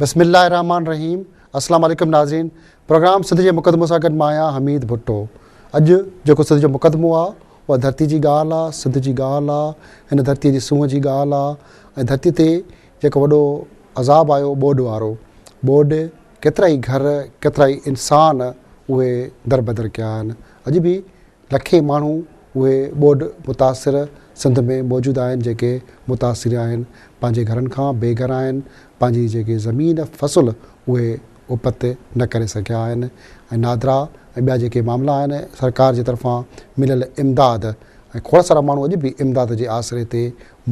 بسم الله الرحمن الرحيم السلام عليڪم ناظرين پروگرام سڌ جي مقدمو سان گڏ مان آهيان حميد ڀٽو اڄ جيڪو سڌ جو مقدمو آهي اها ڌرتي جي ڳالهه آهي سڌ جي ڳالهه آهي هن ڌرتي جي سونهن جي ڳالهه آهي ۽ ڌرتي تي جيڪو وڏو عذاب آيو ٻوڏ وارو ٻوڏ ڪيترائي گهر، ڪيترائي انسان اهي دربدر ڪيا آهن. اڄ به لکين ماڻهو اهي ٻوڏ متاثر سنڌ ۾ موجود آهن جيڪي متاثر آهن، پنهنجي گهرن کان بي گهر آهن، پنهنجي جيڪي زمين فصل اهي اپت نه ڪري سگهيا آهن ۽ نادرا ۽ ٻيا جيڪي معاملا آهن سرڪار جي طرفان مليل امداد ۽ کوڙ سارا ماڻهو اڄ به امداد جي آسري تي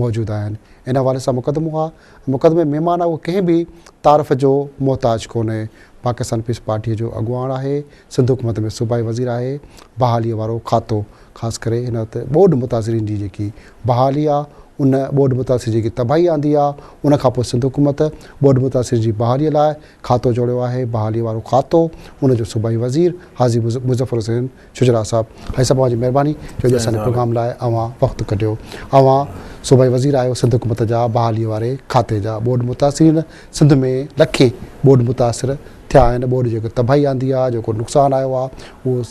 موجود آهن ان حوالي سان مقدمو آهي. مقدمي ۾ معنيٰ اهو ڪنهن به تعارف جو محتاج ڪونهي. پاڪستان پيپلز پارٽيء جو اڳواڻ آهي، سنڌ حڪومت ۾ صوبائي وزير آهي، بحاليء وارو کاتو، خاص ڪري هن وقت ٻوڏ متاثرين جي جيڪي بحالي آهي، ان ٻوڏ متاثرين جيڪي تباهي آندي آهي، ان کان پوء سنڌ حڪومت ٻوڏ متاثرين جي بحاليء لاء کاتو جوڙيو آهي، بحاليء وارو کاتو، ان جو صوبائي وزير حاجي مظفر حسين شجراع صاحب هي سڀ اوهان جي مهرباني جو اڄ اسان جي پروگرام لاء اوهان وقت ڪڍيو اوهان صوبائي وزير آهيو سنڌ حڪومت جا بحالي واري کاتي جا ٻوڏ متاثرين سنڌ ۾ لکين ٻوڏ متاثر ٿيا آهن ٻوڏ جيڪو تباهي آندي آهي جيڪو نقصان آيو آهي اهو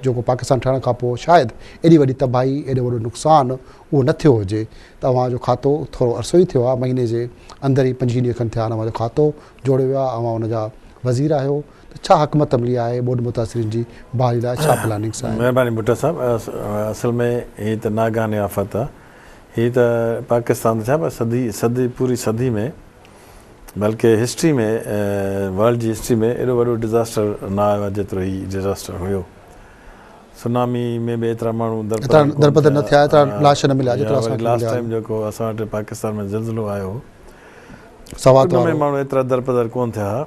جيڪو پاڪستان ٺهڻ کان پوء شايد ايڏي وڏي تباهي ايڏو وڏو نقصان اهو نه ٿيو هجي ته اوهان جو کاتو ٿورو عرصو ئي ٿيو آهي مهيني جي اندر ئي پنجويهه ڏينهن کن ٿيا آهن اوهان جو کاتو جوڙيو ويو آهي اوهان ان جا وزير آهيو ته ڇا حڪمت عملي آهي ٻوڏ متاثرين جي بحالي لاء ڇا پلاننگس آهن؟ مهرباني ڀٽو صاحب اصل ۾ هي ته ناگهاني آفت آ هي ته پاڪستان ته ڇا پر صدي صدي پوري صدي ۾ بلڪه هسٽري ۾ ورلڊ جي هسٽري ۾ ايڏو وڏو ڊزاسٽر نه آيو آ جيترو هي ڊزاسٽر هيو سونامي ۾ به ايترا ماڻهو درپدر نه ٿيا ايترا لاش نه مليا جيترا اسان کي مليا لاش ٽائيم جيڪو اسان وٽ پاڪستان ۾ زلزلو آيو هو سوات وارو ان ۾ ماڻهو ايترا درپدر ڪون ٿيا ها.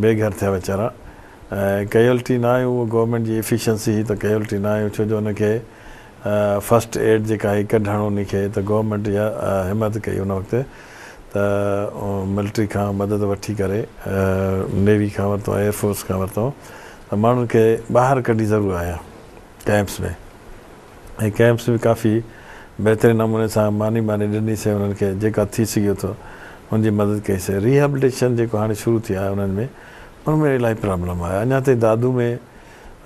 بي گهر ٿيا ويچارا ۽ ڪيولٽي نه آيون اهو گورنمينٽ جي ايفيشنسي هئي ته ڪيولٽي نه آيون ڇو جو ان کي فرسٽ ايڊ جيڪا هئي ڪڍڻ انهي کي ته گورنمينٽ اها همت ڪئي ان وقت ته ملٽري کان مدد وٺي ڪري نيوي کان ورتو ايئر فورس کان ورتو ته ماڻهن کي ٻاهر ڪڍي ضرور آيا ڪيمپس ۾ ۽ ڪئمپس به ڪافي بهترين نموني سان ماني ٻاني ڏني سين انهن کي جيڪا ٿي سگهيو ٿو ان جي مدد ڪئي سين ريهيبلٽيشن جيڪو هاڻي شروع ٿي آهي انهن ۾ ان ۾ الائي پرابلم آهي اڃا تائين دادو ۾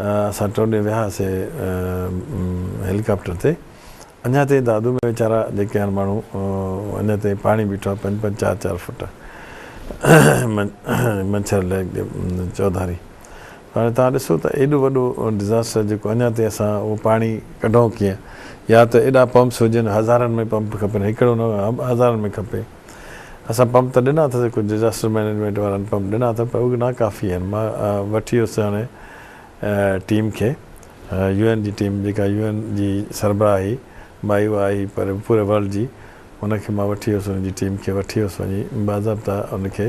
اسان ٽئون ڏينهن ويا سين هيليڪاپٽر تي اڃا تائين دادو ۾ ويچارا جيڪي هاڻ ماڻهو اڃا تائين پاڻي بيٺو آهي پنج پنج چار چار فوٽ منڇر ليڪ جي چوڌاري هاڻي توهان ڏسو ته ايڏو وڏو ڊزاسٽر جيڪو اڃا تائين اسان اهو پاڻي ڪڍون ڪيئن يا ته ايڏا پمپس هجن هزارن ۾ پمپ کپن هڪڙو نه هزارن ۾ کپي اسان پمپ ته ڏنا اٿس ڪجهه ڊزاسٽر مئنيجمينٽ وارن پمپ ڏنا اٿن پر اهي نا ڪافي آهن مان وٺي ويس هاڻي ٽيم کي يو اين جي ٽيم جيڪا يو اين جي سربراهه هئي مائي اها آئي پر پوري ورلڊ جي ان کي مان وٺي ويس ان جي ٽيم کي وٺي ويس وڃي باضابطا ان کي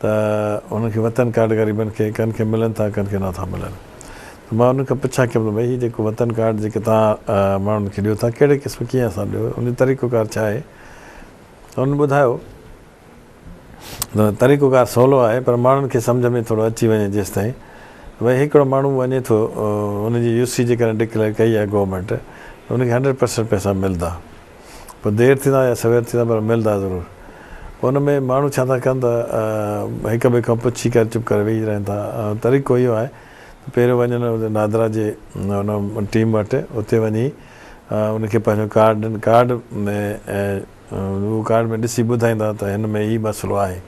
ته انهن کي وطن ڪارڊ غريبن کي ڪن کي ملن ٿا ڪن کي نٿا ملن ته مان انهن کان پڇا ڪيم ته ڀئي هي جيڪو وطن ڪارڊ جيڪي توهان ماڻهن کي ڏيو ٿا ڪهڙي قسم ڪيئن سان ڏيو ان جو طريقو ڪار ڇا آهي ته انهن ٻڌايو ته طريقو ڪار سولو آهي پر ماڻهن کي سمجهه ۾ ٿورو اچي وڃي جيستائين ته ڀئي هڪڙو ماڻهو وڃي ٿو ان جي يو سي جيڪڏهن ڊڪليئر ڪئي آهي گورنمينٽ ته ان کي هنڊريڊ پرسنٽ پئسا ملدا. پوء دير ٿيندا يا سوير ٿيندا پر ملندا ضرور. پوء ان ۾ ماڻهو ڇا ٿا ڪن ته هڪ ٻئي کان پڇي ڪري چپ ڪري ويهي رهن ٿا. طريقو اهو آهي ته پهريون وڃن نادرا جي ان ٽيم وٽ اتي وڃي ان کي پنهنجو ڪارڊ ڏين ڪارڊ ۾ ۽ هو ڪارڊ ۾ ڏسي ٻڌائيندا ته هن ۾ هي مسئلو آهي.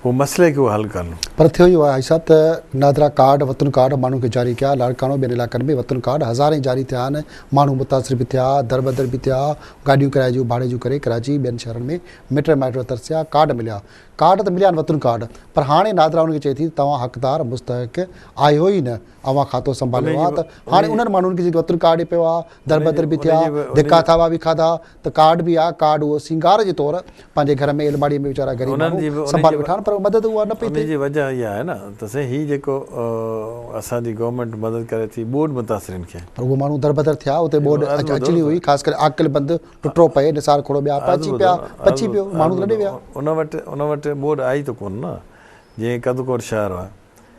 پوء مسئلي کي حل ڪن. پر ٿيو اهو آهي حاجي صاحب ته نادرا ڪارڊ وطن ڪارڊ ماڻهن کي جاري ڪيا لاڙڪاڻو ٻين علائقن ۾ وطن ڪارڊ هزارين جاري ٿيا آهن ماڻهو متاثر به ٿيا دربدر به ٿيا گاڏيون ڪرايي جون ڀاڙي جون ڪري ڪراچي ٻين شهرن ۾ مٽ مائٽ ترسيا ڪارڊ مليا ڪارڊ ته مليا آهن وطن ڪارڊ پر هاڻي نادرا انهن کي چئي ٿي ته توهان حقدار مستحق آهيو ئي نه اوهان کاتو سنڀاليو آهي ته هاڻي انهن ماڻهن کي جيڪي وطن ڪارڊ پيو آهي دربدر به ٿيا ڌڪا ٿاٻا به کاڌا ته ڪارڊ به آ، ڪارڊ اهو سينگار جي طور پنهنجي گهر ۾ ايلماڙيء ۾ ويچارا غريب انهن جي ماڻهو به انهن سنڀالي جي ويٺا آهن پر اها مدد اها نه پئي انهن ٿئي. جي وجه اها آهي نه ته سائين هي جيڪو اسان جي گورنمينٽ مدد ڪري ٿي ٻوڏ متاثرين کي. پر اهي ماڻهو دربدر ٿيا اتي هڪ ٻوڏ عرض ٻڌو اچڻي نه هئي سائين. خاص ڪري عاقل بند، ٽٽو پئي، نثار کهڙو ٻيا عرض پهچي ٻڌو پيا، نه عرض پچي ٻڌو پيو، ماڻهو عرض ته لڏي ٻڌو ويا. ان وٽ ان وٽ ٻوڏ آئي ته ڪونه نه جيئن ڪڌڪوٽ شهر آ.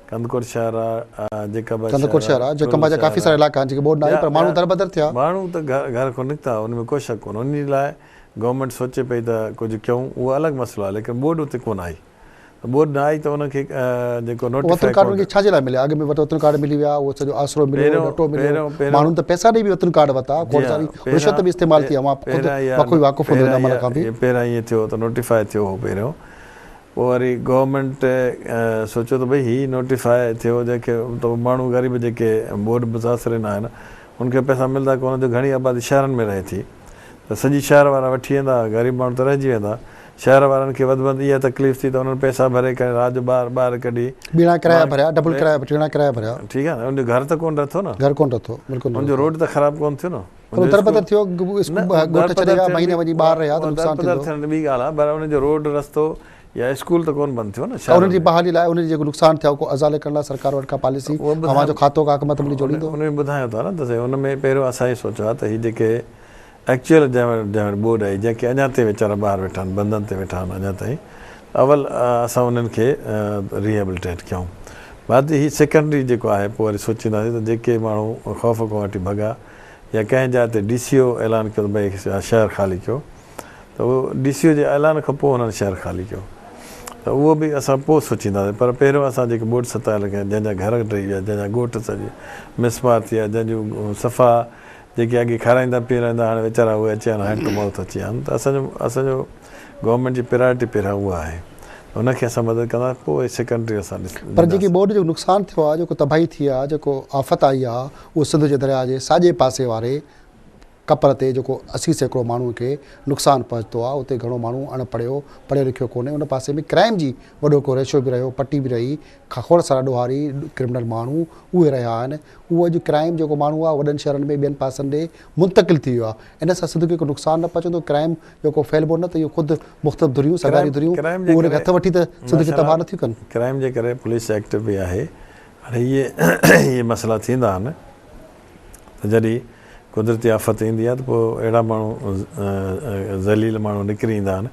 ڪنڌڪوٽ شهر آ جيڪب آ شهر آ. ڪنڌڪوٽ شهر آ جيڪب آ جا ڪافي سارا علائقا آهن جيڪي ٻوڏ ناهي پر ماڻهو دربدر ٿيا. ماڻهو ته گهر کان نڪتا ان ۾ ڪو شڪ ڪونه ان لاء گورنمينٽ سوچي پئي ته ڪجهه ڪيون اهو الڳ مسئلو آهي ليڪن ٻوڏ اتي ڪونه آئي ته ٻوڏ نه آئي ته ان کي جيڪو نوٽيفائي ڪارڊ. وطن ڪارڊ ان کي ڇا جي لاء مليا اڳ ۾ وطن ڪارڊ ملي ويا اهو سڄو آسرو مليو ڏٽو مليو ماڻهن ته پئسا ڏئي به وطن ڪارڊ ورتا کوڙ ساري رشوت به استعمال ٿي اوهان خود بخوبي واقف هوندو ان عمل کان به. پهريان ائين ٿيو ته نوٽيفائي ٿيو هو پهريون پوء وري گورنمينٽ سوچيو ته ڀئي هي نوٽيفاء ٿيو جنهن کي ته ماڻهو غريب جيڪي ٻوڏ متاثرين آهن ان کي پئسا ملدا ڪونه جو گهڻي آبادي شهرن ۾ رهي ٿي ته سڄي شهر وارا وٺي ويندا غريب ماڻهو ته رهجي ويندا شهر وارن کي وڌ مند اها تڪليف ٿي ته انهن پئسا ڀري ڪري رات جو ٻار ٻاهر ڪڍي ٻيڻا ڪرايا ڀريا ڊبل ڪرايا ٽيڻا ڪرايا ڀريا ٺيڪ آهي نه ان جو گهر ته ڪونه رٿو نه گهر ڪونه رٿو بلڪل نه ان جو روڊ ته خراب ڪونه ٿيو نه. ٿورو دربدر ٿيو، ڳوٺ ڇڏي ويا، مهيني وڃي ٻاهر رهيا ته نقصان ٿيندو. دربدر ٿيڻ ته ٻي ڳالهه آهي پر انهن جو روڊ رستو يا اسڪول ته ڪونه بند ٿيو نه شهرن ۾. انهن جي بحالي لاء انهن جي جيڪو نقصان ٿيا کي ازالي ڪرڻ لاء سرڪار وٽ ڪا پاليسي، اوهان جو کاتو ڪا حڪمت عملي جوڙيندو؟ ان ۾ ٻڌايان ٿا نه ته سائين ان ۾ پهريون اسان هي سوچيو آهي ته هي جيڪي ايڪچوئل جنهن وٽ جنهن وٽ ٻوڏ آهي جنهن کي اڃان تائين ويچارا ٻاهر ويٺا آهن بندن تي ويٺا آهن اڃان تائين اول اسان انهن کي ريهيبلٽيٽ ڪيون بعد هي سيڪنڊري جيڪو آهي پوء وري سوچينداسين ته جيڪي ماڻهو خوف کان وٺي ڀڳا يا ڪنهن جاء تي ڊي سي او اعلان ڪيو ته ڀئي شهر خالي ڪيو ته اهو ڊي سي او جي اعلان کان پوء هنن شهر خالي ڪيو ته اهو به اسان پوء سوچينداسين پر پهريون اسان جيڪي ٻوڏ ستايل ڪيا جنهن جا گهر ڊهي ويا جنهن جا ڳوٺ سڄي مسمار ٿي ويا جنهن جون صفا جيڪي اڳي کارائيندا پيرائيندا هاڻي ويچارا اهي اچي ويا آهن هٽ موت اچي ويا آهن ته اسان جو اسان جو گورنمينٽ جي پرائرٽي پهريان اها آهي ان کي اسان مدد ڪنداسين پوء سيڪنڊري اسان ڏسنداسين. پر جيڪي ٻوڏ جو نقصان ٿيو آهي جيڪو تباهي ٿي آهي جيڪو آفت آئي آهي اهو سنڌ جي درياهه جي ساڄي پاسي واري ڪپر تي جيڪو اسي سيڪڙو ماڻهن کي نقصان پهچتو آهي اتي گهڻو ماڻهو اڻ پڙهيو پڙهيو لکيو ڪونهي ان پاسي ۾ ڪرائيم جي وڏو هڪڙو ريشو به رهيو پٽي به رهي کوڙ سارا ڏوهاري ڪرمنل ماڻهو اهي رهيا آهن اهو اڄ ڪرائيم جيڪو ماڻهو آهي وڏن شهرن ۾ ٻين پاسن ڏي منتقل ٿي ويو آهي ان سان سنڌ کي ڪو نقصان نه پهچندو ڪرائيم جيڪو ڦهلبو نه ته اهو خود مختلف ڌريون سگهاري ڌريون اهي ان کي هٿ وٺي ته سنڌ کي تباهه نٿيون ڪن. ڪرائيم جي ڪري پوليس ايڪٽ به آهي هاڻي اهي اهي مسئلا ٿيندا آهن ته جڏهن قدرتي آفت ايندي آهي ته پوء اهڙا ماڻهو ذليل ماڻهو نڪري ايندا آهن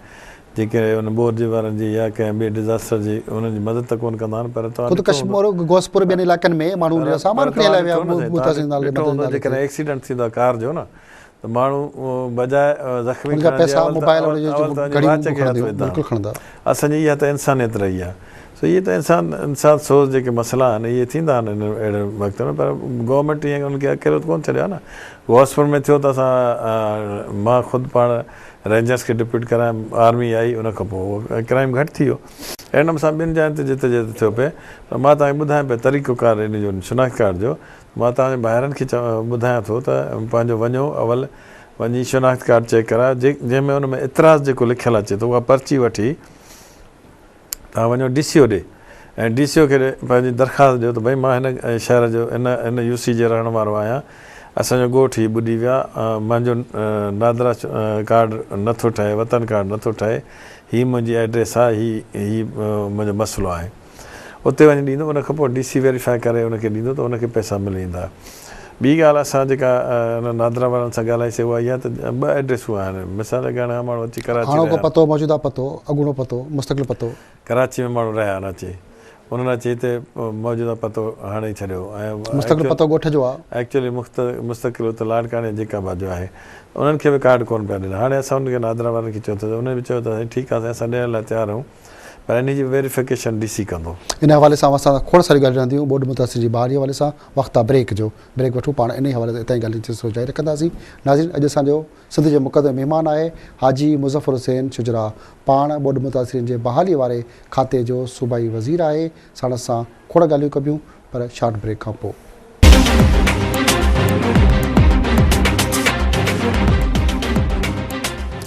جيڪي ان بورجي وارن جي يا ڪنهن ٻئي ڊزاسٽر جي انهن جي مدد ته ڪونه ڪندا آهن پر توهان ڏٺو هوندو ته غوثپور ٻين علائقن ۾ ماڻهو سامان کڻي هليا ويا آهن جيڪڏهن ايڪسيڊنٽ ٿيندو آهي ڪار جو نه ته ماڻهو بجاء زخمي کڻڻ جي اول ته اول ته پنهنجي واچ کي هٿ وجهندا هئا. اسان جي اها ته انسانيت رهي آهي. سو اهي ته انسان انسان سوز جيڪي مسئلا آهن اهي ٿيندا آهن انهن اهڙن وقتن ۾ پر گورنمينٽ ايئن انهن کي اڪيلو ته ڪونه ڇڏيو آهي نه. غوثپور ۾ ٿيو ته اسان مان خود پاڻ رينجرز کي ڊپيوٽ ڪرايم آرمي آئي ان کان پوء اهو ڪرائيم گهٽ ٿي ويو. اهڙي نموني سان ٻين جاين تي جتي جتي ٿيو پئي پر مان توهان کي ٻڌايان پئي طريقو ڪار ان جو شناخت ڪارڊ جو مان توهان جي ڀائرن کي ٻڌايان ٿو ته پنهنجو وڃو اول وڃي شناخت ڪارڊ چيڪ ڪرايو جنهن ۾ ان ۾ اعتراض جيڪو لکيل اچي ٿو اها پرچي وٺي توهان وڃو ڊي سي او ڏي ۽ ڊي سي او کي پنهنجي درخواست ڏيو ته ڀئي مان هن شهر جو هن هن يو سي جي رهڻ وارو آهيان اسان جو ڳوٺ هي ٻڏي ويو آهي منهنجو نادرا ڪارڊ نه ٿو ٺهي وطن ڪارڊ نه ٿو ٺهي هي منهنجي ايڊريس آهي هي هي منهنجو مسئلو آهي. اتي وڃي ڏيندو ان کان پوء ڊي سي ويريفائي ڪري ان کي ڏيندو ته ان کي پئسا ملي ويندا. ٻي ڳالهه اسان جيڪا انهن نادرا وارن سان ڳالهائي سي اها اها ته ٻه ايڊريسون آهن مثال طور هاڻي ماڻهو اچي ڪراچي رهيا هاڻوڪو پتو موجوده پتو اڳوڻو پتو مستقل پتو. ڪراچي ۾ ماڻهو رهيا آهن اچي انهن اچي هتي موجوده پتو هڻي ڇڏيو ۽ مستقل پتو ڳوٺ جو آهي. ايڪچوئلي مستقل اتي لاڙڪاڻي جيڪب آباد جو آهي انهن کي به ڪارڊ ڪونه پيا ڏين هاڻي اسان انهن کي نادرا وارن کي چيو اٿس انهن به چيو اٿس سائين ٺيڪ آهي سائين اسان ڏيڻ لاء تيار آهيون پر انهي جي ويريفڪيشن ڊي سي ڪندو. ان حوالي سان اوهان سان اسان کوڙ ساريون ڳالهيون رهنديون ٻوڏ متاثرين جي بحالي حوالي سان وقت آ بريڪ جو بريڪ وٺون پاڻ انهي حوالي سان اتان جي ڳالهين سلسلو جاري رکنداسين ناظرين اڄ اسان جو سنڌ جو مقدمي مهمان آهي حاجي مظفر حسين شجراع پاڻ ٻوڏ متاثرين جي بحالي واري کاتي جو صوبائي وزير آهي ساڻس سان کوڙ ڳالهيون ڪبيون پر شارٽ بريڪ کان پوء.